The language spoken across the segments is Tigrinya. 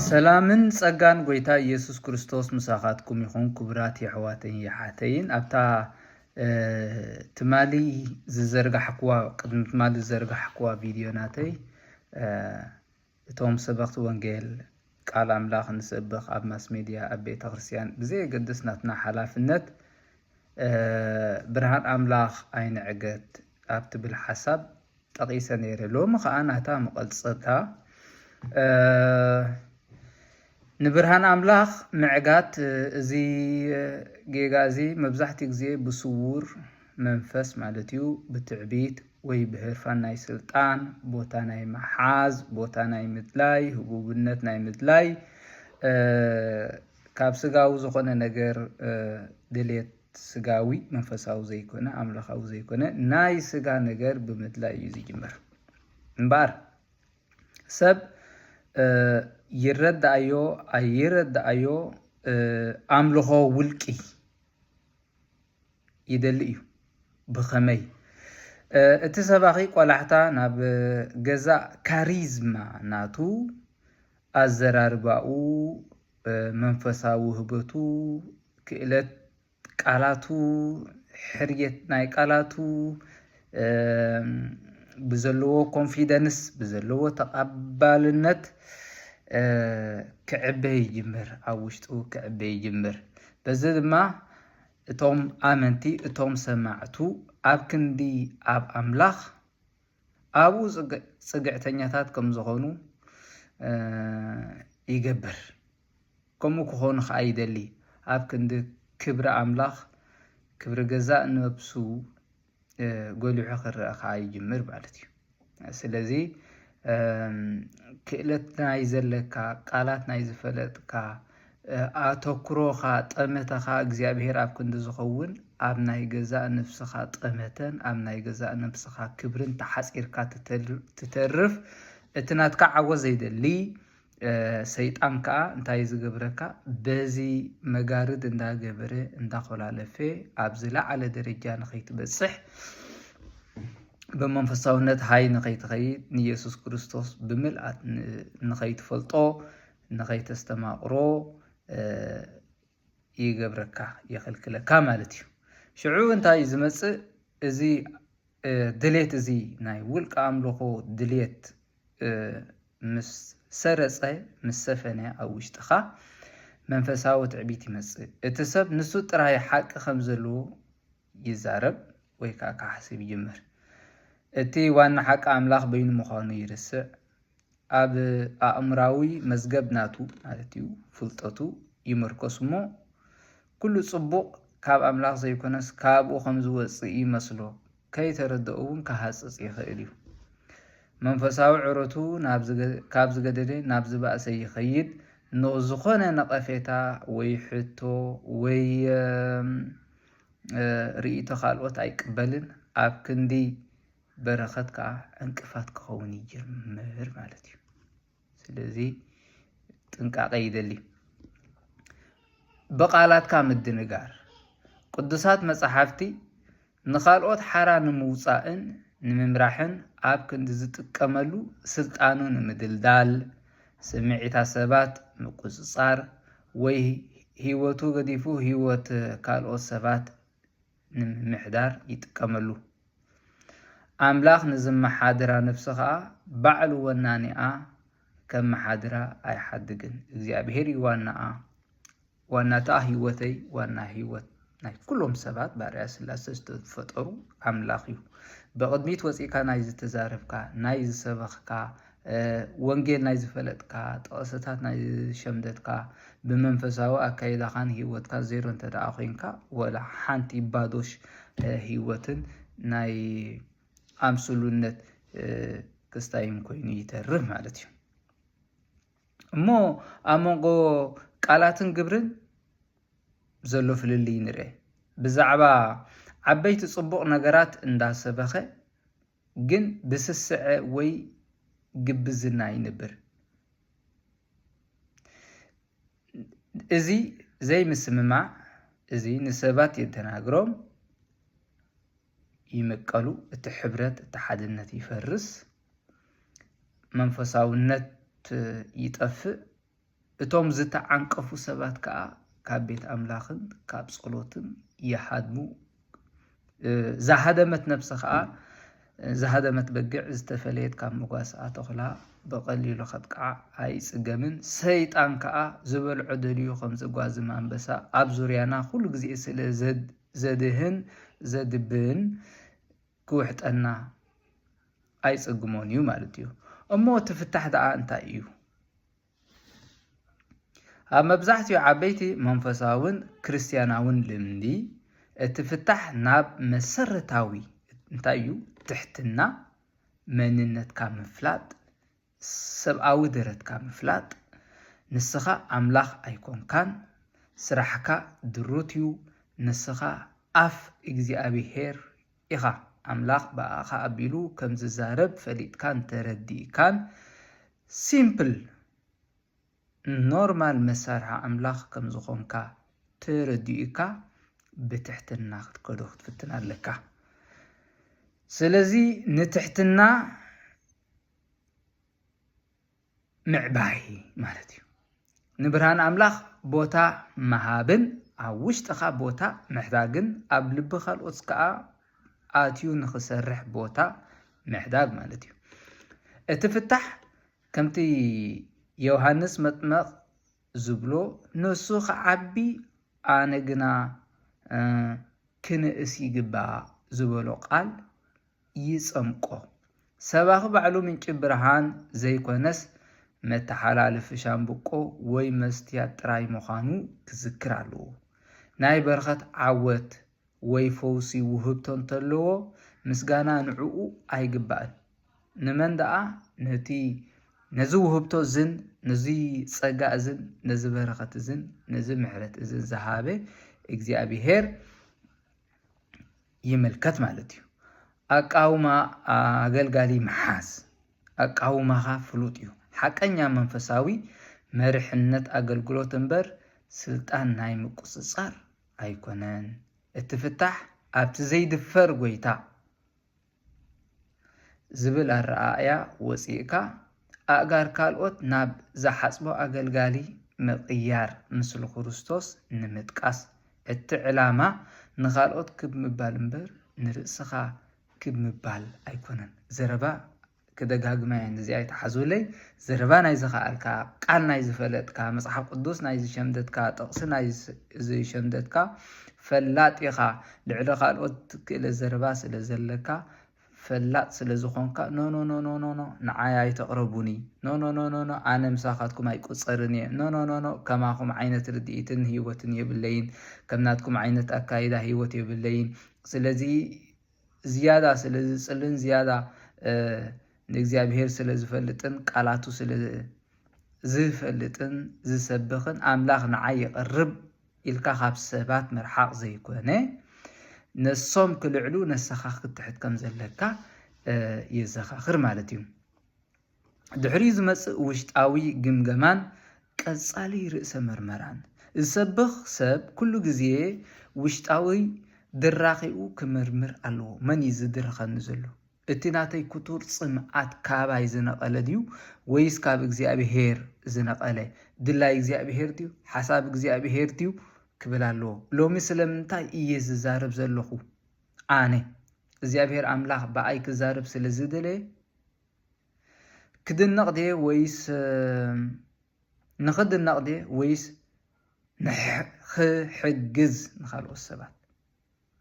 ሰላምን ጸጋን ጎይታ ኢየሱስ ክርስቶስ ምሳኻትኩም ይኹን ክቡራት የሕዋተይን የሓተይን ኣብታ ትማሊ ዝዘርጋሕክዋ ቅድሚ ትማሊ ዝዘርጋሕክዋ ቪድዮ ናተይ እቶም ሰበኽቲ ወንጌል ቃል ኣምላኽ ንሰብኽ ኣብ ማስሜድያ ኣብ ቤተክርስትያን ብዘየገድስ ናትና ሓላፍነት ብርሃን ኣምላኽ ኣይንዕገት ኣብ ትብል ሓሳብ ጠቂሰ ነይረ ሎሚ ከኣ ናታ መቀልጸታ ንብርሃን ኣምላኽ ምዕጋት እዚ ጌጋ እዚ መብዛሕትኡ ግዜ ብስዉር መንፈስ ማለት እዩ ብትዕቢት ወይ ብህርፋን ናይ ስልጣን ቦታ ናይ ምሓዝ ቦታ ናይ ምድላይ ህቡብነት ናይ ምድላይ ካብ ስጋዊ ዝኾነ ነገር ድሌት ስጋዊ መንፈሳዊ ዘይኮነ ኣምላኻዊ ዘይኮነ ናይ ስጋ ነገር ብምድላይ እዩ ዝጅምር እምበኣር ሰብ ይረዳኣዮ ኣይረዳኣዮ ኣምልኾ ውልቂ ይደሊ እዩ ብኸመይ እቲ ሰባኺ ቆላሕታ ናብ ገዛእ ካሪዝማ ናቱ ኣዘራርባኡ መንፈሳዊ ህበቱ ክእለት ቃላቱ ሕርየት ናይ ቃላቱ ብዘለዎ ኮንፊደንስ ብዘለዎ ተቐባልነት ክዕበ ይጅምር ኣብ ውሽጡ ክዕበ ይጅምር በዚ ድማ እቶም ኣመንቲ እቶም ሰማዕቱ ኣብ ክንዲ ኣብ ኣምላኽ ኣብኡ ፅግዕተኛታት ከም ዝኾኑ ይገብር። ከምኡ ክኾኑ ከኣ ይደሊ። ኣብ ክንዲ ክብሪ ኣምላኽ፣ ክብሪ ገዛእ ነብሱ ጎሊሑ ክርኣ ከኣ ይጅምር ማለት እዩ። ስለዚ ክእለት ናይ ዘለካ፣ ቃላት ናይ ዝፈለጥካ፣ ኣተኩሮኻ፣ ጠመተኻ እግዚኣብሄር ኣብ ክንዲ ዝኸውን ኣብ ናይ ገዛእ ነብስኻ ጠመተን ኣብ ናይ ገዛእ ነብስኻ ክብርን ተሓጺርካ ትተርፍ እቲ ናትካ ዓወት ዘይደሊ ሰይጣን ከኣ እንታይ እዩ ዝገብረካ በዚ መጋርድ እንዳ ገበረ እንዳ ኮላለፈ ኣብ ዝለዓለ ደረጃ ንኸይትበጽሕ ብመንፈሳውነት ሃይ ንኸይትኸይድ ንየሱስ ክርስቶስ ብምልኣት ንኸይትፈልጦ ንኸይተስተማቕሮ ይገብረካ ይኽልክለካ ማለት እዩ። ሽዑ እንታይ እዩ ዝመጽእ እዚ ድሌት እዚ ናይ ውልቀ ኣምልኾ ድሌት ምስ ሰረጸ ምስ ሰፈነ ኣብ ውሽጥኻ መንፈሳዊ ትዕቢት ይመጽእ። እቲ ሰብ ንሱ ጥራይ ሓቂ ከም ዘለዎ ይዛረብ ወይ ከኣ ክሓስብ ይጅምር። እቲ ዋና ሓቂ ኣምላኽ በይኑ ምዃኑ ይርስዕ። ኣብ ኣእምራዊ መዝገብ ናቱ ማለት እዩ ፍልጠቱ ይምርኮስ እሞ ኩሉ ጽቡቕ ካብ ኣምላኽ ዘይኮነስ ካብኡ ከም ዝወጽእ ይመስሎ። ከይተረድኦ እውን ክሃጽጽ ይኽእል እዩ። መንፈሳዊ ዕረቱ ካብ ዝገደደ ናብ ዝበኣሰ ይኸይድ፣ ንዝኾነ ነቐፌታ ወይ ሕቶ ወይ ርእይቶ ካልኦት ኣይቅበልን፣ ኣብ ክንዲ በረኸት ከኣ ዕንቅፋት ክኸውን ይጅምር ማለት እዩ። ስለዚ ጥንቃቐ ይደሊ። ብቓላትካ ምድንጋር ቅዱሳት መጻሕፍቲ ንኻልኦት ሓራ ንምውጻእን ንምምራሕን ኣብ ክንዲ ዝጥቀመሉ ስልጣኑ ንምድልዳል ስምዒታት ሰባት ምቁጽጻር ወይ ህይወቱ ገዲፉ ህይወት ካልኦት ሰባት ንምምሕዳር ይጥቀመሉ። ኣምላኽ ንዝመሓድራ ነፍሲ ኸኣ ባዕሉ ወናኒኣ ከመሓድራ ኣይሓድግን። እግዚኣብሔር እዩ ዋናኣ። ዋናታኣ ህይወተይ ዋና ህይወት ናይ ኩሎም ሰባት ባርያ ስላሰ ዝተፈጠሩ ኣምላኽ እዩ። ብቕድሚት ወጺእካ ናይ ዝተዛረብካ፣ ናይ ዝሰበኽካ፣ ወንጌል ናይ ዝፈለጥካ፣ ጥቕስታት ናይ ዝሸምደድካ፣ ብመንፈሳዊ ኣካይዳኻን ህይወትካን ዜሮ እንተደኣ ኮይንካ፣ ወላ ሓንቲ ባዶሽ ህይወትን ናይ ኣምስሉነት ክስታይን ኮይኑ ይተርፍ ማለት እዩ። እሞ ኣብ መንጎ ቃላትን ግብርን ዘሎ ፍልልይ ንርኤ። ብዛዕባ ዓበይቲ ጽቡቕ ነገራት እንዳሰበኸ ግን ብስስዐ ወይ ግብዝና ይንብር። እዚ ዘይምስምማዕ እዚ ንሰባት የደናግሮም፣ ይምቀሉ፣ እቲ ሕብረት እቲ ሓድነት ይፈርስ፣ መንፈሳውነት ይጠፍእ፣ እቶም ዝተዓንቀፉ ሰባት ከኣ ካብ ቤት ኣምላኽን ካብ ጸሎትን ይሃድሙ፣ ዝሃደመት ነፍሲ ኸኣ ዝሃደመት በጊዕ ዝተፈለየት ካብ መጓሰኣ ተዅላ ብቐሊሉ ከጥቅዓ ኣይጽገምን፣ ሰይጣን ከኣ ዝበልዖ ደልዩ ኸም ዘጓዝም ኣንበሳ ኣብ ዙርያና ዅሉ ግዜ ስለ ዘድህን ዘድብን፣ ክውሕጠና ኣይጽግሞን እዩ ማለት እዩ። እሞ እቲ ፍታሕ ደኣ እንታይ እዩ? ኣብ መብዛሕትኡ ዓበይቲ መንፈሳውን ክርስትያናውን ልምዲ እቲ ፍታሕ ናብ መሰረታዊ እንታይ እዩ? ትሕትና መንነትካ ምፍላጥ ሰብኣዊ ደረትካ ምፍላጥ ንስኻ ኣምላኽ ኣይኮንካን ስራሕካ ድሩት ዩ ንስኻ ኣፍ እግዚኣብሄር ኢኻ ኣምላኽ ብኣኻ ኣቢሉ ከም ዝዛረብ ፈሊጥካን ተረዲእካን ሲምፕል ን ኖርማል መሳርሒ ኣምላኽ ከም ዝኾንካ ተረዲኡካ ብትሕትና ክትከዶ ክትፍትን ኣለካ ስለዚ ንትሕትና ምዕባይ ማለት እዩ። ንብርሃን ኣምላኽ ቦታ ምሃብን ኣብ ውሽጥኻ ቦታ ምሕዳግን ኣብ ልቢ ካልኦት ከዓ ኣትዩ ንኽሰርሕ ቦታ ምሕዳግ ማለት እዩ። እቲ ፍታሕ ከምቲ ዮሃንስ መጥመቕ ዝብሎ ንሱ ክዓቢ ኣነ ግና ክንእስ ይግባእ ዝበሎ ቃል ይጸምቆ። ሰባኺ ባዕሉ ምንጪ ብርሃን ዘይኰነስ፣ መተሓላለፊ ሻምብቆ ወይ መስትያት ጥራይ ምዃኑ ክዝክር ኣለዎ። ናይ በረኸት ዓወት ወይ ፈውሲ ውህብቶ እንተለዎ፣ ምስጋና ንዕኡ ኣይግባእን። ንመን ደኣ? ነቲ ነዚ ውህብቶ እዝን ነዚ ጸጋ እዝን ነዚ በረኸት እዝን ነዚ ምሕረት እዝን ዝሃበ እግዚኣብሄር። ይምልከት ማለት እዩ። ኣቃውማ ኣገልጋሊ ምሓዝ ኣቃውማኻ ፍሉጥ እዩ። ሓቀኛ መንፈሳዊ መሪሕነት ኣገልግሎት እምበር ስልጣን ናይ ምቁጽጻር ኣይኮነን። እቲ ፍታሕ ኣብቲ ዘይድፈር ጎይታ ዝብል ኣረኣእያ ወጺእካ ኣእጋር ካልኦት ናብ ዚሓጽቦ ኣገልጋሊ ምቕያር ምስሊ ክርስቶስ ንምጥቃስ። እቲ ዕላማ ንኻልኦት ክብ ምባል እምበር ንርእስኻ ክብ ምባል ኣይኮነን። ዘረባ ክደጋግማ እየ ነዚኣ ይትሓዙለይ ዘረባ ናይ ዝኸኣልካ ቃል ናይ ዝፈለጥካ መጽሓፍ ቅዱስ ናይ ዝሸምደድካ ጥቕሲ ናይ ዝሸምደድካ ፈላጥ ኢኻ ልዕሊ ካልኦት ክእለት ዘረባ ስለ ዘለካ ፈላጥ ስለ ዝኾንካ ኖኖኖኖኖኖ ንዓይ ኣይተቕረቡኒ ኖኖኖኖኖ ኣነ ምሳኻትኩም ኣይቁጸርን እየ ኖኖኖኖ ከማኹም ዓይነት ርድኢትን ህይወትን የብለይን ከም ናትኩም ዓይነት ኣካይዳ ህይወት የብለይን ስለዚ ዝያዳ ስለ ዝጽልን ዝያዳ ንእግዚኣብሄር ስለ ዝፈልጥን ቃላቱ ስለ ዝፈልጥን ዝሰብኽን ኣምላኽ ንዓይ የቕርብ ኢልካ ካብ ሰባት ምርሓቕ ዘይኮነ ነሶም ክልዕሉ ነሰኻ ክትትሕት ከም ዘለካ የዘኻኽር ማለት እዩ። ድሕሪኡ ዝመጽእ ውሽጣዊ ግምገማን ቀጻሊ ርእሰ ምርመራን። ዝሰብኽ ሰብ ኩሉ ግዜ ውሽጣዊ ድራኼኡ ክምርምር ኣለዎ። መን እዩ ዝድርኸኒ ዘሎ? እቲ ናተይ ክቱር ጽምኣት ካባይ ዝነቐለ ድዩ ወይስ ካብ እግዚኣብሄር ዝነቐለ? ድላይ እግዚኣብሄር ድዩ? ሓሳብ እግዚኣብሄር ድዩ? ክብል ኣለዎ። ሎሚ ስለምንታይ እየ ዝዛረብ ዘለኹ? ኣነ፣ እግዚኣብሄር ኣምላኽ ብኣይ ክዛረብ ስለ ዝደለየ ክድነቕ ድየ ወይስ ንኽድነቕ ድየ ወይስ ንኽሕግዝ ንኻልኦት ሰባት?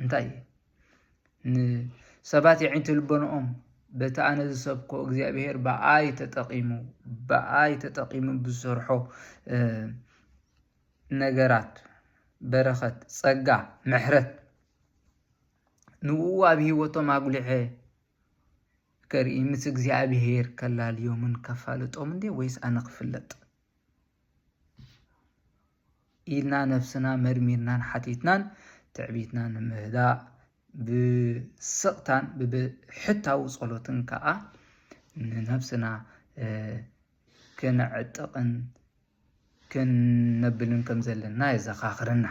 እንታይ እዩ? ንሰባት የዒንቲ ልቦንኦም በቲ ኣነ ዝሰብኮ እግዚኣብሄር ብኣይ ተጠቒሙ ብኣይ ተጠቒሙ ብዝሰርሖ ነገራት በረኸት፣ ጸጋ፣ ምሕረት ንኡ ኣብ ህይወቶም ኣጉሊሐ ከርኢ ምስ እግዚኣብሄር ከላልዮምን ከፋልጦምን ድየ ወይስ ኣነ ክፍለጥ? ኢልና ነብስና መርሚርናን ሓቲትናን ትዕቢትና ንምህዳእ ብስቕታን ብብሕታዊ ጸሎትን ከኣ ንነብስና ከነዕጥቕን ከነብልን ከም ዘለና የዘኻኽረና።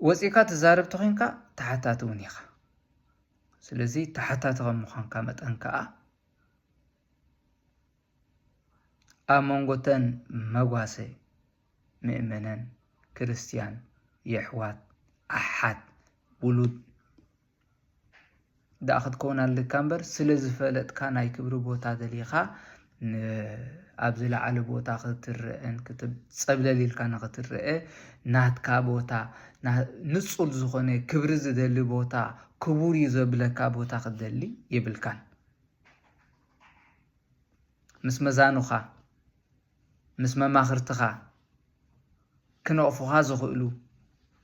ወጺእካ ትዛረብ ተኾይንካ ተሓታቲ እውን ኢኻ። ስለዚ ተሓታቲ ከም ምዃንካ መጠን ከኣ ኣብ መንጎተን መጓሰ ምእመናን ክርስትያን የሕዋት ኣሓት ውሉድ ደኣ ክትከውን ኣለካ እምበር ስለ ዝፈለጥካ ናይ ክብሪ ቦታ ደሊኻ ኣብ ዝለዓለ ቦታ ክትረአን ፀብለል ኢልካ ንክትረአ ናትካ ቦታ ንፁር ዝኾነ ክብሪ ዝደሊ ቦታ ክቡር እዩ ዘብለካ ቦታ ክትደሊ የብልካን። ምስ መዛኑኻ፣ ምስ መማኽርትኻ፣ ክነቕፉኻ ዝኽእሉ፣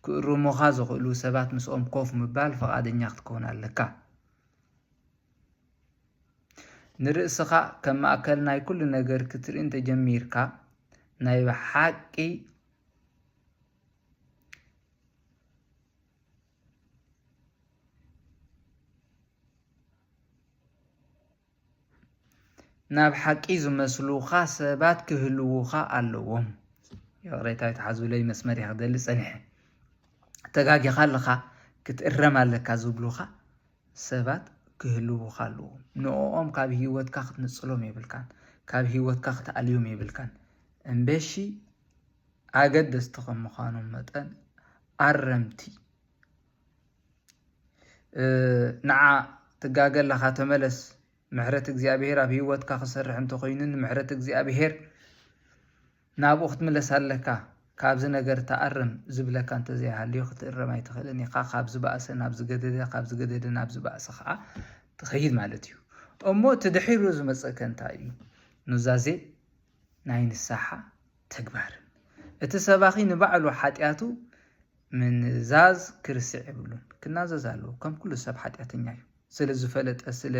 ክእርሙኻ ዝኽእሉ ሰባት ምስኦም ኮፍ ምባል ፍቓደኛ ክትከውን ኣለካ። ንርእስኻ ከም ማእከል ናይ ኩሉ ነገር ክትርኢ እንተጀሚርካ ናይ ብሓቂ ናብ ሓቂ ዝመስሉኻ ሰባት ክህልዉኻ ኣለዎም ይቕሬታ ይትሓዙለይ መስመር እየ ክደሊ ጸኒሐ ተጋጊኻ ኣለኻ ክትእረም ኣለካ ዝብሉኻ ሰባት ክህልዉኻ ኣለዎም ንኦም ካብ ህይወትካ ክትንጽሎም የብልካን ካብ ህይወትካ ክትኣልዮም የብልካን እምበሺ ኣገደስቲ ከም ምዃኖም መጠን ኣረምቲ ንዓ ትጋገ ኣለኻ ተመለስ ምሕረት እግዚኣብሄር ኣብ ሂወትካ ክሰርሕ እንተኾይኑ ንምሕረት እግዚኣብሄር ናብኡ ክትምለስ ኣለካ ካብዚ ነገር ተኣረም ዝብለካ እንተዘይሃልዩ ክትእረም ኣይትኽእልን ኢኻ ካብ ዝባእሰ ናብ ዝገደደ ካብ ዝገደደ ናብ ዝባእሰ ከዓ ትኸይድ ማለት እዩ እሞ እቲ ድሒሩ ዝመፀከ እንታይ እዩ ኑዛዜ ናይ ንስሓ ተግባርን። እቲ ሰባኺ ንባዕሉ ሓጢኣቱ ምንዛዝ ክርስዕ የብሉን። ክናዘዝ ኣለዎ። ከም ኩሉ ሰብ ሓጢኣተኛ እዩ። ስለ ዝፈለጠ ስለ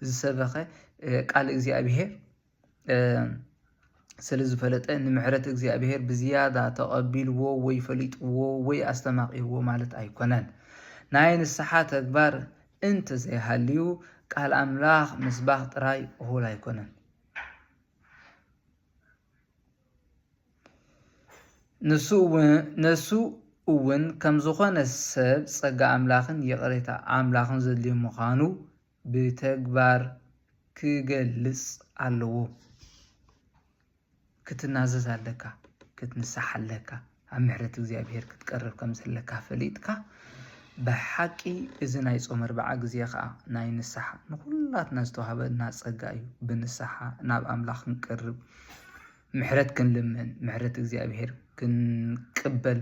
ዝሰበኸ ቃል እግዚኣብሄር ስለ ዝፈለጠ ንምሕረት እግዚኣብሄር ብዝያዳ ተቐቢልዎ ወይ ፈሊጥዎ ወይ ኣስተማቒዎ ማለት ኣይኮነን። ናይ ንስሓ ተግባር እንተዘይሃልዩ ቃል ኣምላኽ ምስባኽ ጥራይ እኹል ኣይኮነን። ንሱ እውን ከም ዝኾነ ሰብ ጸጋ ኣምላኽን ይቕሬታ ኣምላኽን ዘድልዮ ምዃኑ ብተግባር ክገልጽ ኣለዎ። ክትናዘዝ ኣለካ፣ ክትንሳሕ ኣለካ። ኣብ ምሕረት እግዚኣብሄር ክትቀርብ ከም ዘለካ ፈሊጥካ ብሓቂ እዚ ናይ ጾመ ኣርብዓ ግዜ ከኣ ናይ ንስሓ ንኩላትና ዝተዋህበና ጸጋ እዩ ብንስሓ ናብ ኣምላኽ ክንቀርብ ምሕረት ክንልምን ምሕረት እግዚኣብሄር ክንቅበል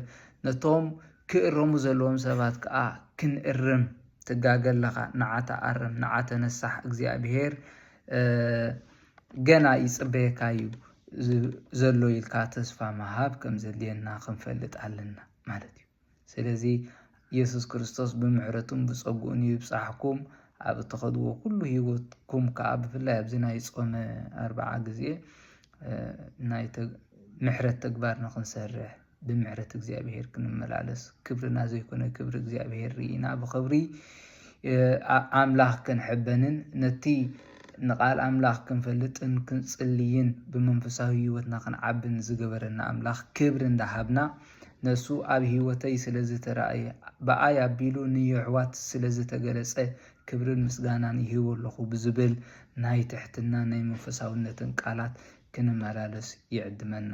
ነቶም ክእረሙ ዘለዎም ሰባት ከኣ ክንእርም ትጋገ ኣለኻ ንዓ ተኣረም ንዓ ተነሳሕ እግዚኣብሄር ገና ይጽበየካ እዩ ዘሎ ኢልካ ተስፋ ምሃብ ከም ዘድልየና ክንፈልጥ ኣለና ማለት እዩ። ስለዚ ኢየሱስ ክርስቶስ ብምሕረቱን ብጸግኡን ይብጻሕኩም ኣብ እትኸድዎ ኩሉ ህይወትኩም ከኣ ብፍላይ ኣብዚ ናይ ጾመ ኣርብዓ ግዜ ናይ ምሕረት ተግባር ንኽንሰርሕ ብምሕረት እግዚኣብሔር ክንመላለስ ክብርና ዘይኮነ ክብሪ እግዚኣብሔር ርኢና ብኽብሪ ኣምላኽ ክንሕበንን ነቲ ንቓል ኣምላኽ ክንፈልጥን ክንጽልይን ብመንፈሳዊ ህይወትና ክንዓብን ዝገበረና ኣምላኽ ክብሪ እንዳሃብና ነሱ ኣብ ህይወተይ ስለ ዝተራእየ ብኣይ ኣቢሉ ንየሕዋት ስለ ዝተገለጸ ክብርን ምስጋናን ይህቦ ኣለኹ ብዝብል ናይ ትሕትናን ናይ መንፈሳውነትን ቃላት ክንመላለስ ይዕድመና።